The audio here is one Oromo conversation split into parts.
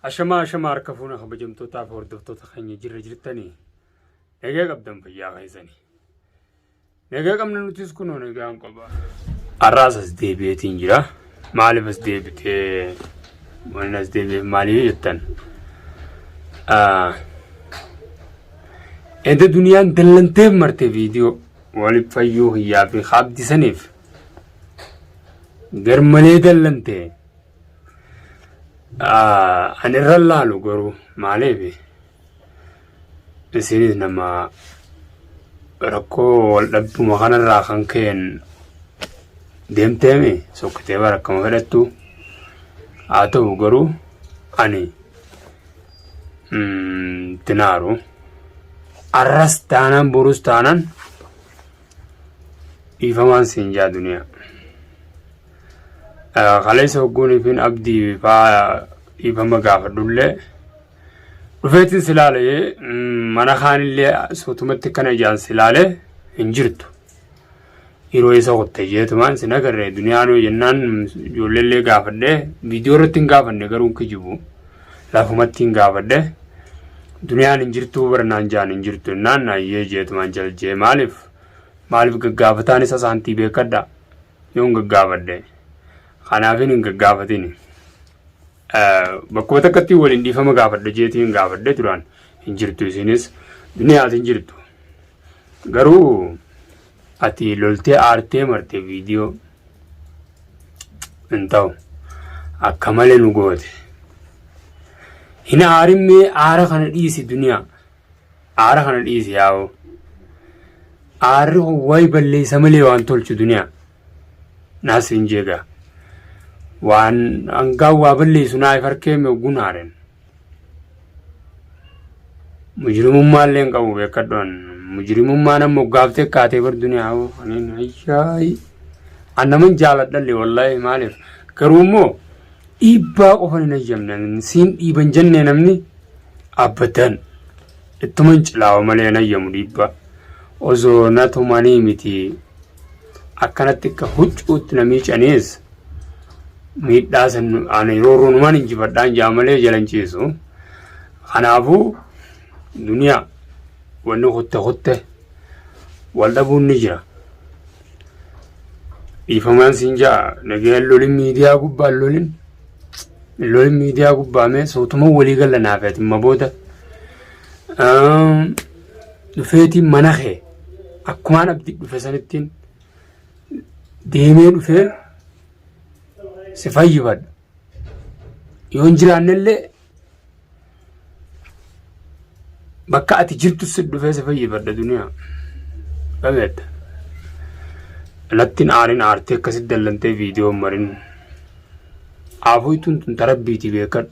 Ashamaa ashamaa harka fuuna kabajamtootaaf hordoftoota keenya jirra jirtanii nagaa qabdan fayyaa keessanii. Nagaa qabna nutis kunoo nagaan qaba. Har'aas as deebi'eetiin jira. Maaliif as deebitee wanni as deebi'eef maaliif jettan? Edda duniyaan dallanteef marte viidiyoo waliif fayyuu hiyyaa fi haabdisaniif garmalee dallantee. Ani irra laalu garuu maaliif isinis nama rakkoo wal dhabduma kanarraa kan ka'een deemteemi sokkitee bara akkama fedhattu haa ta'u garuu ani tinaaru arras taanaan borus taanaan dhiifamaan siin jaa duniyaa. Kaleessa hogguunii fi abdii faa dhiifama gaafadhullee dhufeetiin si laale mana kaanillee suutumatti akkana ijaan si laale hin jirtu. Yeroo isa kutte jeetumaan si nagarree duniyaan yoo jennaan ijoolleellee gaafadhee viidiyoo irratti hin gaafanne garuu kijibu lafumatti hin gaafadhe duniyaan hin jirtuu barnaan jaan hin jirtu jennaan ayyee jeetumaan jaljee maaliif maaliif gaggaafataan isa saantii beekadha. yoon gaggaafadhe kanaafin hin gaggaafatin bakkuma takkatti waliin dhiifama gaafadhe jeetii hin gaafadhe duraan hin jirtu isinis duniyaas hin jirtu garuu ati loltee aartee marte viidiyoo hin ta'u akka malee nu goote hin aarimmee aara kana dhiisi duniyaa Aara kana dhiisi yaa'u. Aarri wayi balleessa malee waan tolchu duniyaa. Naas hin jeega. Waan hangaa waa balleessu naa if harkee meegguun haaren. Mujrimummaa illee hin qabu beekadhoon. Mujrimummaan ammoo gaaftee kaatee bar duniyaa hoo. Aniin ayyaayi. Annaman jaaladhallee wallaahi maaliif garuu immoo Dhiibbaa qofan hin hayyamne siin dhiiban jennee namni abadan ittuman cilaawa malee hin hayyamu dhiibbaa. Osoo na tumanii miti akkanatti akka huccuutti na miicanis miidhaa san ani roorroonumaan injifadhaan jaa malee jalan ciisu. Kanaafuu duniyaa wanni kutte kutte wal dhabuun ni jira. Dhiifamaan siin ja'a nagayaan lolin miidiyaa gubbaa lolin lolin miidiyaa gubbaa mee sootuma walii galla naaf ati ma booda dhufeetiin mana kee akkumaan abdi dhufe sanittiin deemee dhufee si fayyifadha. Yoo hin jiraannellee bakka ati jirtu si dhufee si fayyifadha duniyaa. Dhabeetta. Nattiin aarin aartee akkasitti dallantee viidiyoo marin. Aafuu ittuun tun tarabbiiti beekadhu.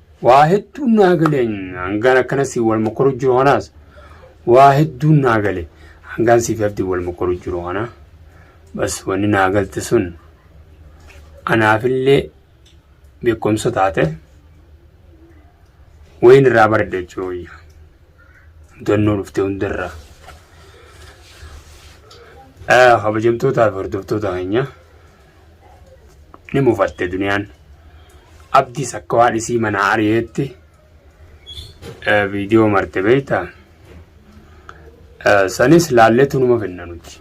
Waa hedduun naa gale hangaan akkana si wal mokoru jiru kanaas waa hedduun naa gale hangaan siif abdi wal mokoru jiru kana bas wanni naa galte sun anaafillee beekumsa taate wayin irraa baradhe jechuu wayya mudannoo dhufte hundarraa kabajamtootaa fi hordoftoota keenya. ni mufatte duniyaan abdiis akka waan isii manaa ari'eetti viidiyoo marte beekta sanis laalleetu numa finna nuti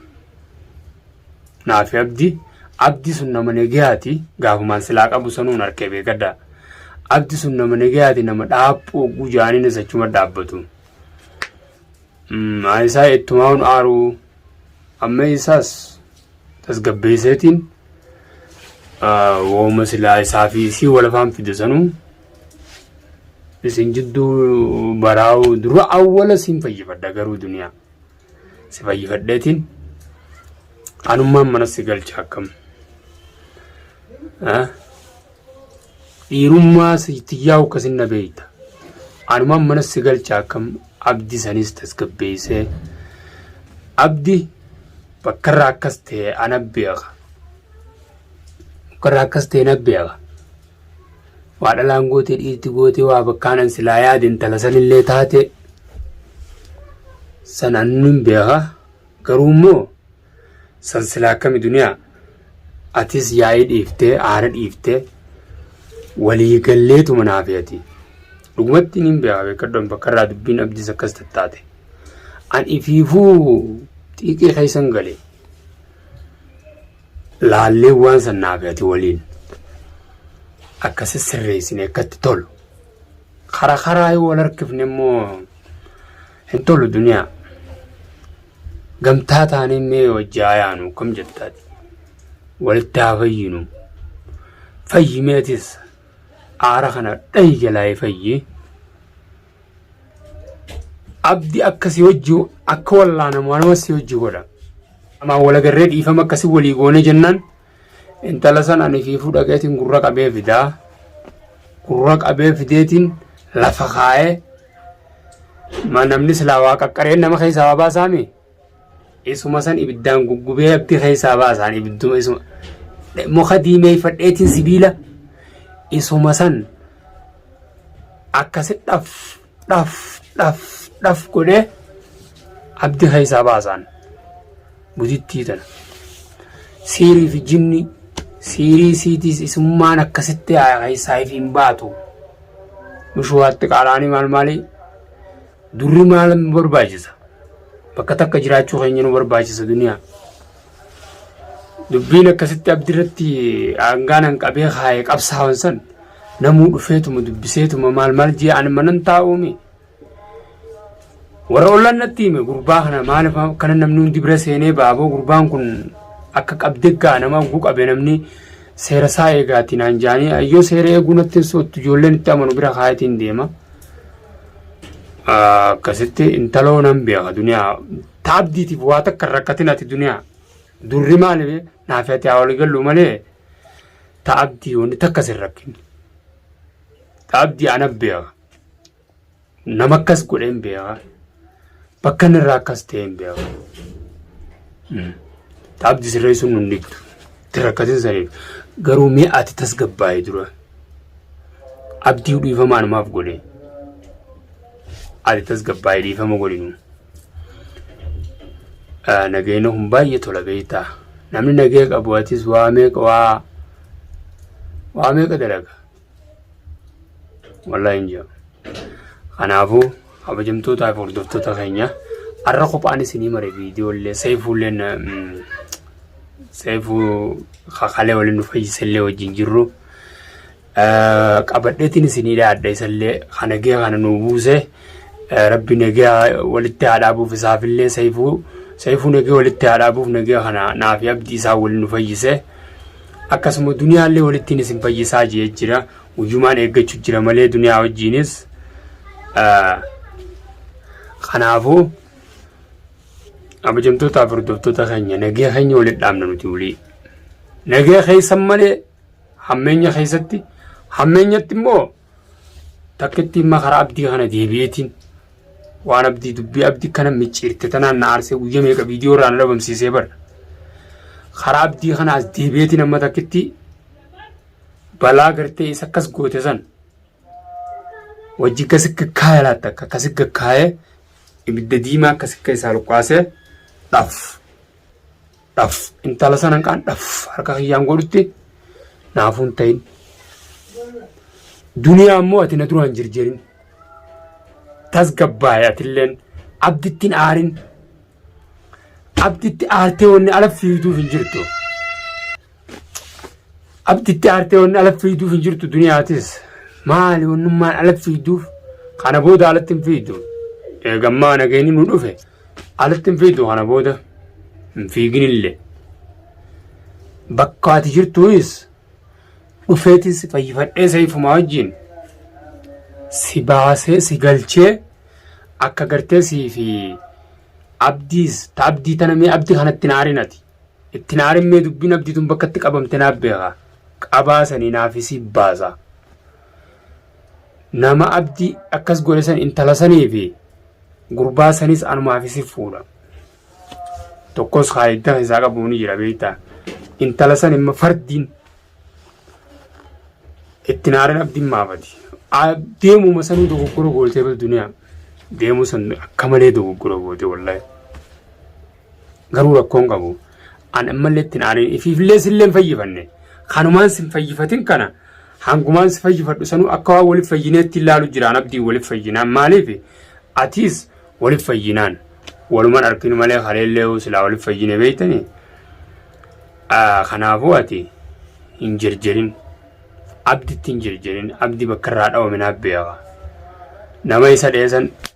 naafi abdi abdi sun nama negayaati gaafumaan silaa qabu sanuun harkee beekadha abdi sun nama negayaati nama dhaaphuu gujaaniin isachuma dhaabbatu isaa ittumaan aaruu Amma isaas tasgabbeesseetiin wooma silaa isaa fi isii wal afaan fide sanuu isin jidduu baraa'uu dura awwala siin fayyifadha garuu duniyaa si fayyifadheetiin anummaan mana si galcha akkam. Dhiirummaa tiyyaa akkasiin na beekta. Anumaan mana si galcha akkam abdi sanis tasgabbeessee. Abdi bakkarraa akkas ta'e ana beeka. Bakkarraa akkas ta'e na beeka. Waa dhalaan gootee dhiirti gootee waa bakkaanan silaa yaade intala sanillee taate sanaan nun beeka. Garuu immoo San silaa akkami duniyaa? Atis yaa'ii dhiiftee aara dhiiftee walii galleetuma naa fe'ati. Dhugumatti niin beekaa beekadhoon bakka irraa dubbiin abdiis akkas tattaate. An ifiifuu xiiqii keessan gale. Laallee waan san naa fe'ati waliin. Akkasi sirreessine akkatti tolu. Karaa karaa yoo wal harkifne immoo Hin tolu duniyaa. Gamtaa taanee mee wajji haa yaanu akkam jettaati. Walitti haa fayyinu. Fayyi meetis aara kana dhahi jalaa fayyi. Abdi akka si wajji akka wallaanamu anuma si wajji godha. Amaa walagarree dhiifama akkasi walii goone jennaan Intala san ani fiifuu dhaqeetiin gurra qabee fidaa. Gurra qabee fideetiin lafa kaa'ee ma namni silaa waa qaqqareen nama keessaa waa baasaami. Isuma san ibiddaan guggubee abbi keessaa baasaan ibidduma isuma. Muka diimeeffadheetiin sibiila isuma san akkasithaaf dhaf dhaf dhaf godhee abdi keessaa baasaan gudittii tana siirii fi jinni siirii siitiis isummaan akkasitti keessaa ifi hin baatu mushuwaatti qaalaanii maal maali durri maal barbaachisa bakka takka jiraachuu keenya nu barbaachisa duniyaa. Dubbiin akkasitti abdi irratti aangaan an qabee kaa'e qabsaawan san namuu dhufeetuma dubbiseetuma maal maal jee ani manan taa'uumi. Warra ollaan natti hime gurbaa kana maaliif kana namni hundi bira seenee baaboo gurbaan kun akka qabdee gaa nama oguu qabe namni seera isaa eegaati naan jaanii ayyoo seera eeguu natti hin soottu ijoolleen itti amanu bira kaayatiin deema. Akkasitti intaloo nan beeka duniyaa Ta abdiitiif waa takka hin rakkatin ati duniyaa. Durri maali bee? Naafi ati haa walii gallu malee ta abdii wanni takka sin rakkin. Ta abdii ana beeka. Nama akkas godhee hin beeka. Bakka inni irraa akkas ta'e hin beeka. Ta abdii sirreessuun nun dhibdu. Itti rakkatin saniif. Garuu mee ati tasgabbaa'e dura. Abdii dhiifamaa namaaf godhee. Ati tasgabbaa'e dhiifama godhinu. Nagayina kun baay'ee tola beektaa. Namni nagaya qabu atis waa meeqa waa waa meeqa dalaga. Wallaahi hin jiru. Kanaafuu kabajamtootaa fi hordoftoota keenya har'a kophaan isinii mare viidiyoo illee seefuu illee seefuu kakalee waliin nu fayyisa illee wajjin jirru. qabadheetiin isinii dhaadha isallee kan nagaa kana nuu buuse rabbi nagaa walitti haa dhaabuuf isaafillee sayfuu sayfuu nagaa walitti haa dhaabuuf nagaa kana naaf abdii isaa waliin nu fayyise akkasuma duniyaallee walittiin isin fayyisaa jee jira guyyumaan eeggachuu jira malee duniyaa wajjiinis kanaafuu abajamtootaaf hordoftoota keenya nagaa keenya walitti dhaabna nuti wulii nagaa keessan malee Hammeenya keessatti hammeenyatti immoo takkittiin makaraa abdii kana deebi'eetiin waan abdii dubbii abdii kana micciirte tanaan na aarsee guyyaa meeqa viidiyoo irraa na dhabamsiisee bara. Karaa abdii kana as deebi'eetiin amma takkitti balaa gartee isa akkas goote san wajji gasi gaggaa'ee laatta akka akkasi gaggaa'ee ibidda diimaa akkasi akka isaa luqqaasee dhaaf. Dhaf intala sanan qaan dhaf harka kiyyaan godhutti naafuun ta'in. Duniyaa immoo ati na duraan jirjirin. Tasgabbaa'e atilleen abdittiin aarin. Abditti aartee wanni ala fiiduuf hin jirtu. Abditti aartee wanni ala fiiduuf hin jirtu duniyaatis. Maali wannummaan ala fiiduuf kana booda alatti hin fiidu. Eegammaa nageenyi nu dhufe. Alatti hin fiitu kana booda hin fiiginillee. Bakka ati jirtuunis dhufeetiin si fayyifadhee seefumaa wajjin si baasee si galchee akka gartee sii fi abdiis ta abdii tana mee abdi kana itti naarin ati itti naarin mee dubbiin abdii tun bakka itti qabamte naaf beeka qabaa sanii naaf isii baasa nama abdi akkas godhe san intala sanii fi gurbaa sanis anumaa fi sif fuudha tokkos kaayiddaa isaa qabu ni jira beektaa intala san imma fardiin itti naareen abdiin maafati deemuma sanuu dogoggora gootee bal duniyaa deemuu san akka malee dogoggora goote wallahi Garuu rakkoon qabu an ammallee ittiin aariin ifiifillee sillee hin fayyifanne. Kanumaan sin fayyifatin kana hangumaan si fayyifadhu sanuu akka waan waliif fayyineetti ilaalu jiraan abdiin waliif fayyinaan maaliif atiis waliif fayyinaan waluman arkin malee haleellee silaa waliif fayyine beeytani kanaafuu ati hin jirjirin abditti hin jirjirin abdi bakka irraa dhawame naaf beeka nama isa dheesan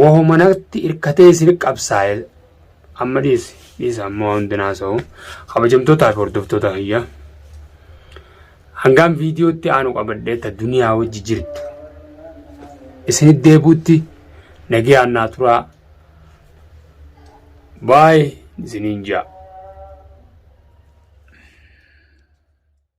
Wahuma natti hirkatee isin qabsaa'e amma dhiisi dhiisa amma waa hundi naasa'u kabajamtootaa fi hordoftoota kiyya hangaan viidiyootti aanu qabadhee ta duniyaa wajji jirtu isinit deebuutti nagayaan naa turaa baay isiniin ja'a.